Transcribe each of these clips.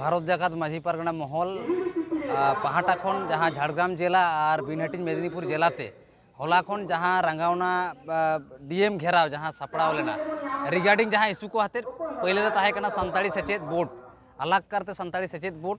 ᱵᱷᱟᱨᱚᱛ ᱡᱟᱠᱟᱛ ᱢᱟᱹᱡᱷᱤ ᱯᱟᱨᱜᱟᱱᱟ ᱢᱚᱦᱚᱞ ᱯᱟᱦᱴᱟ ᱠᱷᱚᱱ ᱡᱟᱦᱟᱸ ᱡᱷᱟᱲᱜᱨᱟᱢ ᱡᱮᱞᱟ ᱟᱨ ᱵᱤᱱ ᱦᱟᱹᱴᱤᱧ ᱢᱮᱫᱤᱱᱤᱯᱩᱨ ᱡᱮᱞᱟᱛᱮ ᱦᱚᱞᱟ ᱠᱷᱚᱱ ᱡᱟᱦᱟᱸ ᱨᱟᱸᱜᱟᱣᱱᱟ ᱰᱤᱮᱢ ᱜᱷᱮᱨᱟᱣ ᱡᱟᱦᱟᱸ ᱥᱟᱯᱲᱟᱣ ᱞᱮᱱᱟ ᱨᱤᱜᱟᱨᱰᱤᱝ ᱡᱟᱦᱟᱸ ᱤᱥᱩ ᱠᱚ ᱦᱟᱛᱮᱫ ᱯᱳᱭᱞᱳ ᱨᱮ ᱛᱟᱦᱮᱸ ᱠᱟᱱᱟ ᱥᱟᱱᱛᱟᱲᱤ ᱥᱮᱪᱮᱫ ᱵᱳᱨᱰ ᱟᱞᱟᱜᱽ ᱠᱟᱨᱛᱮ ᱥᱟᱱᱛᱟᱲᱤ ᱥᱮᱪᱮᱫ ᱵᱳᱨᱰ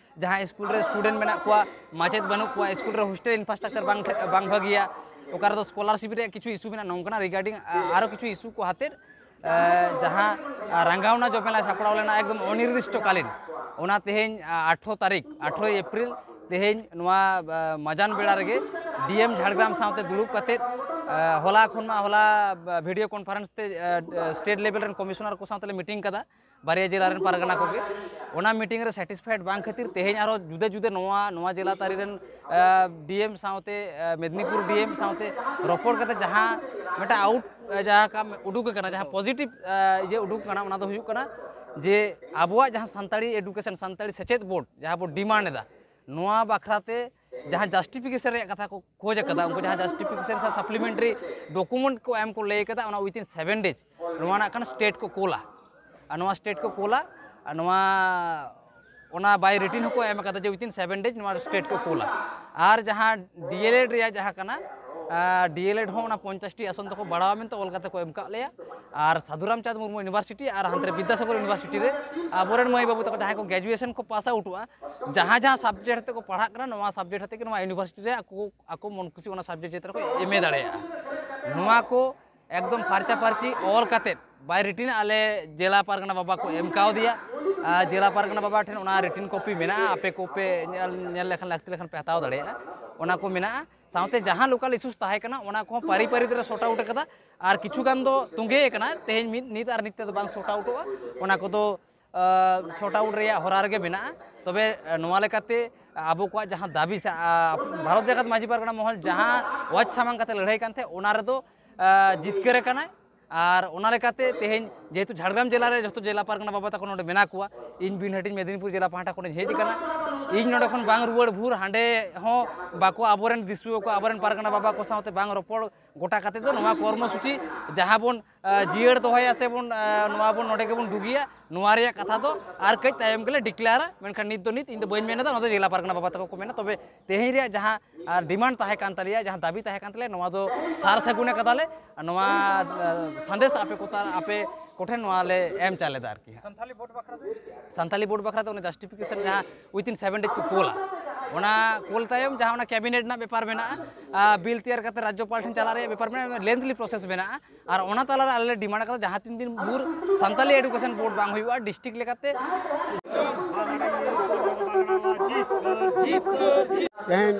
ᱡᱟᱦᱟᱸ ᱥᱠᱩᱞ ᱨᱮ ᱥᱴᱩᱰᱮᱱᱴ ᱢᱮᱱᱟᱜ ᱠᱚᱣᱟ ᱢᱟᱪᱮᱫ ᱵᱟᱹᱱᱩᱜ ᱠᱚᱣᱟ ᱥᱠᱩᱞ ᱨᱮ ᱦᱳᱥᱴᱮᱞ ᱤᱱᱯᱷᱨᱟᱥᱴᱨᱟᱠᱪᱟᱨ ᱵᱟᱝ ᱵᱟᱝ ᱵᱷᱟᱹᱜᱤᱭᱟ ᱚᱠᱟ ᱨᱮᱫᱚ ᱥᱠᱚᱞᱟᱨᱥᱤᱯ ᱨᱮᱭᱟᱜ ᱠᱤᱪᱷᱩ ᱤᱥᱩ ᱢᱮᱱᱟᱜᱼᱟ ᱱᱚᱝᱠᱟᱱᱟᱜ ᱨᱤᱜᱟᱨᱰᱤᱝ ᱟᱨᱚ ᱠᱤᱪᱷᱩ ᱤᱥᱩ ᱠᱚ ᱦᱟᱛᱮᱫ ᱡᱟᱦᱟᱸ ᱨᱟᱸᱜᱟᱣᱱᱟ ᱡᱚᱢᱮᱞᱟ ᱥᱟᱯᱲᱟᱣ ᱞᱮᱱᱟ ᱮᱠᱫᱚᱢ ᱚᱱᱤᱨᱫᱤᱥᱴᱚᱠᱟᱞᱤᱱ ᱚᱱᱟ ᱛᱮᱦᱮᱧ ᱟᱴᱷᱨᱚ ᱛᱟᱹᱨᱤᱠᱷ ᱟᱴᱷᱨᱚᱭ ᱮᱯᱨᱤᱞ ᱛᱮᱦᱮᱧ ᱱᱚᱣᱟ ᱢᱟᱡᱟᱱ ᱵᱮᱲᱟ ᱨᱮᱜᱮ ᱰᱤᱮᱢ ᱡᱷᱟᱲᱜᱨᱟᱢ ᱥᱟᱶᱛᱮ ᱫᱩᱲᱩᱵ ᱠᱟᱛᱮᱫ ᱦᱚᱞᱟ ᱠᱷᱚᱱ ᱢᱟ ᱦᱚᱞᱟ ᱵᱷᱤᱰᱤᱭᱳ ᱠᱚᱱᱯᱷᱟᱨᱮᱱᱥ ᱛᱮ ᱥᱴᱮᱴ ᱞᱮᱵᱮᱞ ᱨᱮᱱ ᱠᱚᱢᱤᱥᱚᱱᱟᱨ ᱠᱚ ᱥᱟᱶ ᱛᱮᱞᱮ ᱢᱤᱴᱤᱝ ᱠᱟᱫᱟ ᱵᱟᱨᱭᱟ ᱡᱮᱞᱟ ᱨᱮᱱ ᱯᱟᱨᱜᱟᱱᱟ ᱠᱚᱜᱮ ᱚᱱᱟ ᱢᱤᱴᱤᱝ ᱨᱮ ᱥᱮᱴᱤᱥᱯᱷᱟᱭᱰ ᱵᱟᱝ ᱠᱷᱟᱹᱛᱤᱨ ᱛᱮᱦᱮᱧ ᱟᱨᱚ ᱡᱩᱫᱟᱹ ᱡᱩᱫᱟᱹ ᱱᱚᱣᱟ ᱱᱚᱣᱟ ᱡᱮᱞᱟ ᱛᱟᱹᱨᱤ ᱨᱮᱱ ᱰᱤᱮᱢ ᱥᱟᱶᱛᱮ ᱢᱮᱫᱽᱱᱤᱯᱩᱨ ᱰᱤᱮᱢ ᱥᱟᱶᱛᱮ ᱨᱚᱯᱚᱲ ᱠᱟᱛᱮ ᱡᱟᱦᱟᱸ ᱢᱤᱫᱴᱟᱝ ᱟᱣᱩᱴ ᱡᱟᱦᱟᱸ ᱠᱟᱢ ᱩᱰᱩᱠ ᱟᱠᱟᱱᱟ ᱡᱟᱦᱟᱸ ᱯᱚᱡᱤᱴᱤᱵᱽ ᱤᱭᱟᱹ ᱩᱰᱩᱠ ᱟᱠᱟᱱᱟ ᱚᱱᱟ ᱫᱚ ᱦᱩᱭᱩᱜ ᱠᱟᱱᱟ ᱡᱮ ᱟᱵᱚᱣᱟᱜ ᱡᱟᱦᱟᱸ ᱥᱟᱱᱛᱟᱲᱤ ᱮᱰᱩᱠᱮᱥᱚᱱ ᱥᱟᱱᱛᱟᱲᱤ ᱥᱮᱪᱮᱫ ᱵᱳᱨᱰ ᱡᱟᱦᱟᱸ ᱵᱚ ᱰᱤᱢᱟᱱᱰ ᱮᱫᱟ ᱱᱚᱣᱟ ᱵᱟᱠᱷᱨᱟ ᱛᱮ ᱡᱟᱦᱟᱸ ᱡᱟᱥᱴᱤᱯᱷᱤᱠᱮᱥᱚᱱ ᱨᱮᱭᱟᱜ ᱠᱟᱛᱷᱟ ᱠᱚ ᱠᱷᱚᱡ ᱟᱠᱟᱫᱟ ᱩᱱᱠᱩ ᱡᱟᱦᱟᱸ ᱡᱟᱥᱴᱤᱯᱷᱤᱠᱮᱥᱚᱱ ᱥᱮ ᱥᱟᱯᱞᱤᱢᱮᱱᱴᱟᱨᱤ ᱰᱚᱠᱩᱢᱮᱱᱴ ᱠᱚ ᱮᱢ ᱠᱚ ᱞᱟᱹᱭ ᱟᱠᱟᱫᱟ ᱚᱱᱟ ᱩᱭᱤᱛᱤᱱ ᱥᱮᱵᱷᱮᱱ ᱰᱮᱡᱽ ᱱᱚᱣᱟ ᱱᱟᱜ ᱠᱷᱟᱱ ᱥᱴᱮᱴ ᱠᱚ ᱠᱳᱞᱟ ᱟᱨ ᱱᱚᱣᱟ ᱥᱴᱮᱴ ᱠᱚ ᱠᱳᱞᱟ ᱟᱨ ᱱᱚᱣᱟ ᱚᱱᱟ ᱵᱟᱭ ᱨᱤᱴᱤᱱ ᱦᱚᱸᱠᱚ ᱮᱢ ᱟᱠᱟᱫᱟ ᱡᱮ ᱩᱭᱤᱛᱤᱱ ᱥᱮᱵᱷᱮᱱ ᱰᱮᱡᱽ ᱱᱚᱣᱟ ᱥᱴᱮᱴ ᱠᱚ ᱠᱳᱞᱟ ᱟᱨ ᱡᱟᱦᱟᱸ ᱰᱤᱮᱞᱮᱰ ᱨᱮᱭᱟᱜ ᱡᱟᱦᱟᱸ ᱠᱟᱱᱟ ᱰᱤᱮᱞᱮᱰ ᱦᱚᱸ ᱚᱱᱟ ᱯᱚᱧᱪᱟᱥᱴᱤ ᱟᱥᱚᱱ ᱫᱚᱠᱚ ᱵᱟᱲᱟᱣᱟ ᱢᱮᱱᱛᱮ ᱚᱞ ᱠᱟᱛᱮ ᱠᱚ ᱮᱢ ᱠᱟᱜ ᱞᱮᱭᱟ ᱟᱨ ᱥᱟᱫᱷᱩᱨᱟᱢ ᱪᱟᱸᱫᱽ ᱢᱩᱨᱢᱩ ᱤᱭᱩᱱᱤᱵᱷᱟᱨᱥᱤᱴᱤ ᱟᱨ ᱦᱟᱱᱛᱮ ᱨᱮ ᱵᱤᱫᱽᱫᱟᱥᱟᱜᱚᱨ ᱤᱭᱩᱱᱤᱵᱷᱟᱨᱥᱤᱴᱤ ᱨᱮ ᱟᱵᱚᱨᱮᱱ ᱢᱟᱹᱭ ᱵᱟᱹᱵᱩ ᱛᱟᱠᱚ ᱡᱟᱦᱟᱸᱭ ᱠᱚ ᱜᱨᱮᱡᱩᱭᱮᱥᱚᱱ ᱠᱚ ᱯᱟᱥ ᱟᱣᱩᱴᱚᱜᱼᱟ ᱡᱟᱦᱟᱸ ᱡᱟᱦᱟᱸ ᱥᱟᱵᱡᱮᱠᱴ ᱟᱛᱮ ᱠᱚ ᱯᱟᱲᱦᱟᱜ ᱠᱟᱱᱟ ᱱᱚᱣᱟ ᱥᱟᱵᱡᱮᱠᱴ ᱟᱛᱮ ᱜᱮ ᱱᱚᱣᱟ ᱤᱭᱩᱱᱤᱵᱷᱟᱨᱥᱤᱴᱤ ᱨᱮ ᱟᱠᱚ ᱟᱠᱚ ᱢᱚᱱ ᱠᱩᱥᱤ ᱚᱱᱟ ᱥᱟᱵᱡᱮᱠᱴ ᱪᱮᱛᱟᱱ ᱨᱮᱠᱚ ᱮᱢ ᱮ ᱫᱟᱲᱮᱭᱟᱜᱼᱟ ᱱᱚᱣᱟ ᱠᱚ ᱮᱠᱫᱚᱢ ᱯᱷᱟᱨᱪᱟ ᱯᱷᱟᱨᱪᱤ ᱚᱞ ᱠᱟᱛᱮᱫ ᱵᱟᱭ ᱨᱤᱴᱤᱱ ᱟᱞᱮ ᱡᱮᱞᱟ ᱯᱟᱨᱜᱟᱱᱟ ᱵᱟᱵᱟ ᱠᱚ ᱮᱢ ᱠᱟᱣᱫᱮᱭᱟ ᱡᱮᱞᱟ ᱯᱟᱨᱜᱟᱱᱟ ᱵᱟᱵᱟ ᱴᱷᱮᱱ ᱚᱱᱟ ᱨᱤᱴᱤᱱ ᱠᱚᱯᱤ ᱢᱮᱱᱟᱜᱼᱟ ᱟᱯᱮ ᱠᱚᱯᱮ ᱧᱮᱞ ᱞᱮᱠᱷᱟᱱ ᱞᱟᱹᱠᱛᱤ ᱞᱮᱠᱷᱟᱱ ᱯᱮ ᱦᱟᱛᱟᱣ ᱫᱟᱲᱮᱭᱟᱜᱼᱟ ᱚᱱᱟ ᱠᱚ ᱢᱮᱱᱟᱜᱼᱟ ᱥᱟᱶᱛᱮ ᱡᱟᱦᱟᱸ ᱞᱳᱠᱟᱞ ᱤᱥᱩᱥ ᱛᱟᱦᱮᱸ ᱠᱟᱱᱟ ᱚᱱᱟ ᱠᱚᱦᱚᱸ ᱯᱟᱹᱨᱤ ᱯᱟᱹᱨᱤ ᱛᱮᱞᱮ ᱥᱚᱨᱴ ᱟᱣᱩᱴ ᱟᱠᱟᱫᱟ ᱟᱨ ᱠᱤᱪᱷᱩ ᱜᱟᱱ ᱫᱚ ᱛᱚᱸᱜᱮ ᱟᱠᱟᱱᱟ ᱛᱮᱦᱮᱧ ᱢᱤᱫ ᱱᱤᱛ ᱟᱨ ᱱᱤᱛ ᱛᱮᱫᱚ ᱵᱟᱝ ᱥᱚᱨᱴ ᱟᱣᱩᱴᱚᱜᱼᱟ ᱚᱱᱟ ᱠᱚᱫᱚ ᱥᱚᱨᱴ ᱟᱣᱩᱴ ᱨᱮᱭᱟᱜ ᱦᱚᱨᱟ ᱨᱮᱜᱮ ᱢᱮᱱᱟᱜᱼᱟ ᱛᱚᱵᱮ ᱱᱚᱣᱟ ᱞᱮᱠᱟᱛᱮ ᱟᱵᱚ ᱠᱚᱣᱟᱜ ᱡᱟᱦᱟᱸ ᱫᱟᱹᱵᱤ ᱥᱮ ᱵᱷᱟᱨᱚᱛ ᱡᱟᱠᱟᱛ ᱢᱟᱹᱡᱷᱤ ᱯᱟᱨᱜᱟᱱᱟ ᱢᱚᱦᱚᱞ ᱡᱟᱦᱟᱸ ᱚᱣᱟᱡᱽ ᱥᱟᱢᱟᱝ ᱠᱟᱛᱮ ᱞᱟᱹᱲᱦᱟᱹᱭ ᱠᱟᱱ ᱛᱟᱦᱮᱸᱫ ᱚᱱᱟ ᱨᱮᱫᱚ ᱡᱤᱛᱠᱟᱹᱨ ᱟᱠᱟᱱᱟᱭ ᱟᱨ ᱚᱱᱟ ᱞᱮᱠᱟᱛᱮ ᱛᱮᱦᱮᱧ ᱡᱮᱦᱮᱛᱩ ᱡᱷᱟᱲᱜᱨᱟᱢ ᱡᱮᱞᱟ ᱨᱮ ᱡᱚᱛᱚ ᱡᱮᱞᱟ ᱯᱟᱨᱜᱟᱱᱟ ᱵᱟᱵᱟ ᱛᱟᱠᱚ ᱱᱚᱰᱮ ᱢᱮᱱᱟᱜ ᱠᱚᱣᱟ ᱤᱧ ᱵᱤᱱ ᱦᱟᱹᱴᱤᱧ ᱢᱮᱫᱤᱱᱤᱯᱩᱨ ᱡᱮᱞᱟ ᱯᱟᱦᱴᱟ ᱠᱷᱚᱱᱤᱧ ᱦᱮᱡ ᱟᱠᱟᱱᱟ ᱤᱧ ᱱᱚᱰᱮ ᱠᱷᱚᱱ ᱵᱟᱝ ᱨᱩᱣᱟᱹᱲ ᱵᱷᱩᱨ ᱦᱟᱸᱰᱮ ᱦᱚᱸ ᱵᱟᱠᱚ ᱟᱵᱚᱨᱮᱱ ᱫᱤᱥᱩᱣᱟᱹ ᱠᱚ ᱟᱵᱚᱨᱮᱱ ᱯᱟᱨᱜᱟᱱᱟ ᱵᱟᱵᱟ ᱠᱚ ᱥᱟᱶᱛᱮ ᱵᱟᱝ ᱨᱚᱯᱚᱲ ᱜᱚᱴᱟ ᱠᱟᱛᱮ ᱫᱚ ᱱᱚᱣᱟ ᱠᱚᱨᱢᱚ ᱥᱩᱪᱤ ᱡᱟᱦᱟᱸ ᱵᱚᱱ ᱡᱤᱭᱟᱹᱲ ᱫᱚᱦᱚᱭᱟ ᱥᱮ ᱵᱚᱱ ᱱᱚᱣᱟ ᱵᱚᱱ ᱱᱚᱰᱮ ᱜᱮᱵᱚᱱ ᱰᱩᱜᱤᱭᱟ ᱱᱚᱣᱟ ᱨᱮᱭᱟᱜ ᱠᱟᱛᱷᱟ ᱫᱚ ᱟᱨ ᱠᱟᱹᱡ ᱛᱟᱭᱚᱢ ᱜᱮᱞᱮ ᱰᱤᱠᱞᱮᱭᱟᱨᱟ ᱢᱮᱱᱠᱷᱟᱱ ᱱᱤᱛ ᱫᱚ ᱱᱤᱛ ᱤᱧ ᱫᱚ ᱵᱟᱹᱧ ᱢᱮᱱᱮᱫᱟ ᱚᱱᱟ ᱫᱚ ᱡᱮᱞᱟ ᱯᱟᱨᱜᱟᱱᱟ ᱵᱟᱵᱟ ᱛᱟᱠᱚ ᱠᱚ ᱢᱮᱱᱟ ᱛᱚᱵᱮ ᱛᱮᱦᱮᱧ ᱨᱮᱭᱟᱜ ᱡᱟᱦᱟᱸ ᱰᱤᱢᱟᱱᱰ ᱛᱟᱦᱮᱸ ᱠᱟᱱ ᱛᱟᱞᱮᱭᱟ ᱡᱟᱦᱟᱸ ᱫᱟᱹᱵᱤ ᱛᱟᱦᱮᱸ ᱠᱟᱱ ᱛᱟᱞᱮᱭᱟ ᱱᱚᱣᱟ ᱫᱚ ᱥᱟᱨ ᱥᱟᱹᱜᱩᱱ ᱟᱠᱟᱫᱟᱞᱮ ᱱᱚᱣᱟ ᱥᱟᱸᱫᱮᱥ ᱟᱯᱮ ᱠᱚ ᱟᱯᱮ ᱠᱚᱴᱷᱮᱱ ᱱᱚᱣᱟ ᱞᱮ ᱮᱢ ᱪᱟᱞᱮᱫᱟ ᱟᱨᱠᱤ ᱥᱟᱱᱛᱟᱞᱤ ᱵᱳᱨᱰ ᱵᱟᱠᱷᱨᱟ ᱫᱚ ᱥᱟᱱᱛᱟᱞᱤ ᱵᱳᱨᱰ ᱵᱟᱠᱷᱨᱟ ᱫᱚ ᱚᱱᱟ ᱡᱟᱥᱴᱤᱯᱷᱤᱠᱮᱥᱚᱱ ᱡᱟᱦᱟᱸ ᱩᱭᱛᱤᱱ ᱥᱮᱵᱷᱮᱱ ᱰᱮᱡᱽ ᱠᱚ ᱠᱳᱞᱟ ᱚᱱᱟ ᱠᱳᱞ ᱛᱟᱭᱚᱢ ᱡᱟᱦᱟᱸ ᱚᱱᱟ ᱠᱮᱵᱤᱱᱮᱴ ᱨᱮᱱᱟᱜ ᱵᱮᱯᱟᱨ ᱢᱮᱱᱟᱜᱼᱟ ᱵᱤᱞ ᱛᱮᱭᱟᱨ ᱠᱟᱛᱮ ᱨᱟᱡᱽᱡᱚᱯᱟᱞ ᱴᱷᱮᱱ ᱪᱟᱞᱟᱜ ᱨᱮᱭᱟᱜ ᱵᱮᱯᱟᱨ ᱢᱮᱱᱟᱜᱼᱟ ᱞᱮᱱᱫᱷᱞᱤ ᱯᱨᱚᱥᱮᱥ ᱢᱮᱱᱟᱜᱼᱟ ᱟᱨ ᱚᱱᱟ ᱛᱟᱞᱟᱨᱮ ᱟᱞᱮ ᱞᱮ ᱰᱤᱢᱟᱱᱰ ᱠᱟᱫᱟ ᱡᱟᱦᱟᱸ ᱛᱤᱱ ᱫᱤᱱ ᱵᱷᱳᱨ ᱥᱟᱱᱛᱟᱞᱤ ᱮᱰᱩᱠᱮᱥᱚᱱ ᱵᱳᱨᱰ ᱵᱟᱝ ᱦᱩᱭᱩᱜᱼᱟ ᱰᱤᱥᱴᱨᱤᱠᱴ ᱞᱮᱠᱟᱛᱮ ᱡᱤᱛᱠᱟᱹᱨ ᱡᱤᱛᱠᱟᱹᱨ ᱛᱮᱦᱮᱧ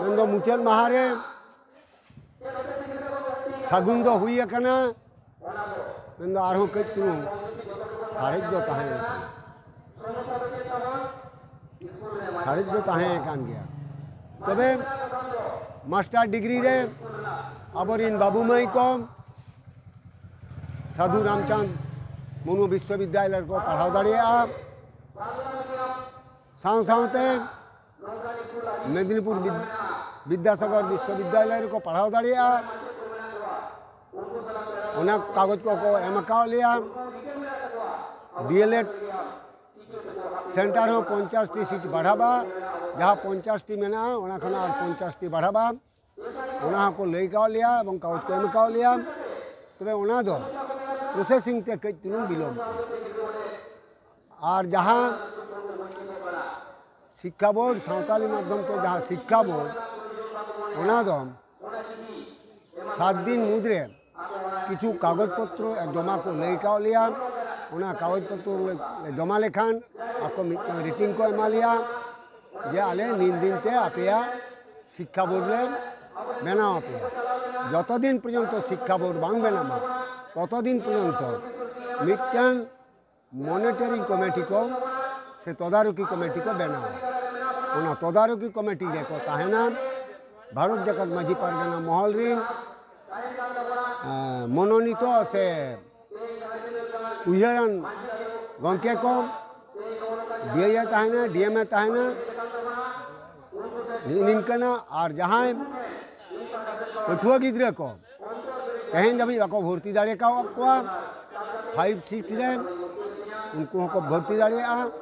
ᱢᱮᱱᱫᱚ ᱢᱩᱪᱟᱹᱫ ᱢᱟᱦᱟ ᱨᱮ ᱥᱟᱹᱜᱩᱱ ᱫᱚ ᱦᱩᱭ ᱟᱠᱟᱱᱟ ᱢᱮᱱᱫᱚ ᱟᱨᱦᱚᱸ ᱠᱟᱹᱡ ᱪᱩᱞᱩᱝ ᱥᱟᱨᱮᱡ ᱫᱚ ᱛᱟᱦᱮᱸ ᱟᱠᱟᱱᱟ ᱥᱟᱨᱮᱡ ᱫᱚ ᱛᱟᱦᱮᱸ ᱟᱠᱟᱱ ᱜᱮᱭᱟ ᱛᱚᱵᱮ ᱢᱟᱥᱴᱟᱨ ᱰᱤᱜᱽᱨᱤ ᱨᱮ ᱟᱵᱚᱨᱤᱱ ᱵᱟᱹᱵᱩ ᱢᱟᱹᱭ ᱠᱚ ᱥᱟᱹᱫᱷᱩ ᱨᱟᱢᱪᱟᱸᱫᱽ ᱢᱩᱨᱢᱩ ᱵᱤᱥᱥᱚᱵᱤᱫᱽᱫᱟᱞᱚᱭ ᱨᱮᱠᱚ ᱯᱟᱲᱦᱟᱣ ᱫᱟᱲᱮᱭᱟᱜᱼᱟ ᱥᱟᱶ ᱥᱟᱶᱛᱮ ᱢᱮᱫᱽᱱᱤᱯᱩᱨ ᱵᱤᱫᱽᱫᱟᱥᱟᱜᱚᱨ ᱵᱤᱥᱥᱚ ᱵᱤᱫᱽᱫᱟᱞᱚᱭ ᱨᱮᱠᱚ ᱯᱟᱲᱦᱟᱣ ᱫᱟᱲᱮᱭᱟᱜᱼᱟ ᱚᱱᱟ ᱠᱟᱜᱚᱡᱽ ᱠᱚᱠᱚ ᱮᱢ ᱟᱠᱟᱣ ᱞᱮᱭᱟ ᱰᱤᱮᱞᱮᱰ ᱥᱮᱱᱴᱟᱨ ᱦᱚᱸ ᱯᱚᱧᱪᱟᱥᱴᱤ ᱥᱤᱴ ᱵᱟᱲᱦᱟᱜᱼᱟ ᱡᱟᱦᱟᱸ ᱯᱚᱧᱪᱟᱥᱴᱤ ᱢᱮᱱᱟᱜᱼᱟ ᱚᱱᱟ ᱠᱷᱚᱱᱟᱜ ᱟᱨ ᱯᱚᱧᱪᱟᱥᱴᱤ ᱵᱟᱲᱦᱟᱜᱼᱟ ᱚᱱᱟ ᱦᱚᱸᱠᱚ ᱞᱟᱹᱭ ᱠᱟᱣ ᱞᱮᱭᱟ ᱮᱵᱚᱝ ᱠᱟᱜᱚᱡᱽ ᱠᱚ ᱮᱢ ᱠᱟᱣ ᱞᱮᱭᱟ ᱛᱚᱵᱮ ᱚᱱᱟ ᱫᱚ ᱯᱨᱚᱥᱮᱥᱤᱝ ᱛᱮ ᱠᱟᱹᱡ ᱪᱩᱞᱩᱝ ᱵᱤᱞᱚᱢ ᱟᱨ ᱡᱟᱦᱟᱸ ᱥᱤᱠᱠᱷᱟ ᱵᱳᱨᱰ ᱥᱟᱶᱛᱟᱞᱤ ᱢᱟᱫᱽᱫᱷᱚᱢ ᱛᱮ ᱡᱟᱦᱟᱸ ᱥᱤᱠᱠᱷᱟ ᱵᱳᱨᱰ ᱚᱱᱟ ᱫᱚ ᱥᱟᱛ ᱫᱤᱱ ᱢᱩᱫᱽᱨᱮ ᱠᱤᱪᱷᱩ ᱠᱟᱜᱚᱡᱽ ᱯᱚᱛᱨᱚ ᱡᱚᱢᱟ ᱠᱚ ᱞᱟᱹᱭ ᱠᱟᱣ ᱞᱮᱭᱟ ᱚᱱᱟ ᱠᱟᱜᱚᱡᱽ ᱯᱚᱛᱨᱚ ᱞᱮ ᱡᱚᱢᱟ ᱞᱮᱠᱷᱟᱱ ᱟᱠᱚ ᱢᱤᱫᱴᱟᱝ ᱨᱤᱴᱤᱝ ᱠᱚ ᱮᱢᱟ ᱞᱮᱭᱟ ᱡᱮ ᱟᱞᱮ ᱱᱤᱱ ᱫᱤᱱ ᱛᱮ ᱟᱯᱮᱭᱟᱜ ᱥᱤᱠᱠᱷᱟ ᱵᱳᱨᱰ ᱞᱮ ᱵᱮᱱᱟᱣ ᱟᱯᱮᱭᱟ ᱡᱚᱛᱚ ᱫᱤᱱ ᱯᱚᱨᱡᱚᱱᱛᱚ ᱥᱤᱠᱠᱷᱟ ᱵᱳᱨᱰ ᱵᱟᱝ ᱵᱮᱱᱟᱜᱼᱟ ᱛᱚᱛᱚ ᱫᱤᱱ ᱯᱚᱨᱡᱚᱱᱛᱚ ᱢᱤᱫᱴᱟᱝ ᱢᱚᱱᱤᱴᱚᱨᱤᱝ ᱠᱚᱢᱤᱴᱤ ᱠᱚ ᱥᱮ ᱛᱚᱫᱟᱨᱚᱠᱤ ᱠᱚᱢᱤᱴᱤ ᱠᱚ ᱵᱮᱱᱟᱣᱟ ᱚᱱᱟ ᱛᱚᱫᱟᱨᱚᱠᱤ ᱠᱚᱢᱤᱴᱤ ᱨᱮᱠᱚ ᱛᱟᱦᱮᱱᱟ ᱵᱷᱟᱨᱚᱛ ᱡᱟᱠᱟᱛ ᱢᱟᱹᱡᱷᱤ ᱯᱟᱨᱜᱟᱱᱟ ᱢᱚᱦᱚᱞ ᱨᱤᱱ ᱢᱚᱱᱚᱱᱤᱛᱚ ᱥᱮ ᱩᱭᱦᱟᱹᱨᱟᱱ ᱜᱚᱢᱠᱮ ᱠᱚ ᱰᱤᱮ ᱛᱟᱦᱮᱱᱟ ᱰᱤᱮᱢᱮ ᱛᱟᱦᱮᱱᱟ ᱱᱤᱝᱠᱟᱹᱱᱟᱜ ᱟᱨ ᱡᱟᱦᱟᱸᱭ ᱯᱟᱹᱴᱷᱩᱣᱟᱹ ᱜᱤᱫᱽᱨᱟᱹ ᱠᱚ ᱛᱮᱦᱮᱧ ᱫᱷᱟᱹᱵᱤᱡ ᱵᱟᱠᱚ ᱵᱷᱚᱨᱛᱤ ᱫᱟᱲᱮ ᱠᱟᱣᱟᱫ ᱠᱚᱣᱟ ᱯᱷᱟᱭᱤᱵᱽ ᱥᱤᱠᱥ ᱨᱮ ᱩᱱᱠᱩ ᱦᱚᱸᱠᱚ ᱵᱷᱚᱨᱛᱤ ᱫᱟᱲᱮᱭᱟᱜᱼᱟ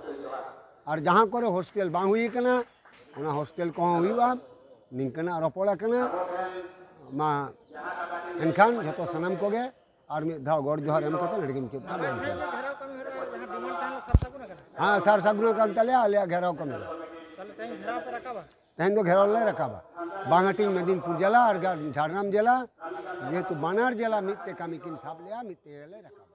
ᱟᱨ ᱡᱟᱦᱟᱸ ᱠᱚᱨᱮ ᱦᱳᱥᱴᱮᱞ ᱵᱟᱝ ᱦᱩᱭ ᱠᱟᱱᱟ ᱚᱱᱟ ᱦᱳᱥᱴᱮᱞ ᱠᱚᱦᱚᱸ ᱦᱩᱭᱩᱜᱼᱟ ᱱᱤᱝᱠᱟᱹᱱᱟᱜ ᱨᱚᱯᱚᱲ ᱟᱠᱟᱱᱟ ᱢᱟ ᱮᱱᱠᱷᱟᱱ ᱡᱚᱛᱚ ᱥᱟᱱᱟᱢ ᱠᱚᱜᱮ ᱟᱨ ᱢᱤᱫ ᱫᱷᱟᱣ ᱜᱚᱰ ᱡᱚᱦᱟᱨ ᱮᱢ ᱠᱟᱛᱮ ᱱᱚᱰᱮ ᱜᱮ ᱢᱩᱪᱟᱹᱫ ᱠᱟᱜ ᱢᱮᱱᱛᱮ ᱦᱮᱸ ᱥᱟᱨ ᱥᱟᱹᱜᱩᱱ ᱟᱠᱟᱱ ᱛᱟᱞᱮᱭᱟ ᱟᱞᱮᱭᱟᱜ ᱜᱷᱮᱨᱟᱣ ᱠᱟᱹᱢᱤ ᱛᱮᱦᱮᱧ ᱫᱚ ᱜᱷᱮᱨᱟᱣ ᱞᱮ ᱨᱟᱠᱟᱵᱟ ᱵᱟᱝ ᱦᱟᱹᱴᱤᱧ ᱢᱮᱫᱤᱱᱯᱩᱨ ᱡᱮᱞᱟ ᱟᱨ ᱡᱷᱟᱲᱜᱨᱟᱢ ᱡᱮᱞᱟ ᱡᱮᱦᱮᱛᱩ ᱵᱟᱱᱟᱨ ᱡᱮᱞᱟ ᱢᱤᱫ ᱛᱮ ᱠᱟᱹᱢᱤ ᱠᱤᱱ ᱥᱟᱵ ᱞᱮᱜᱼᱟ ᱢᱤᱫ ᱛᱮᱜᱮ ᱞᱮ ᱨᱟᱠᱟᱵᱟ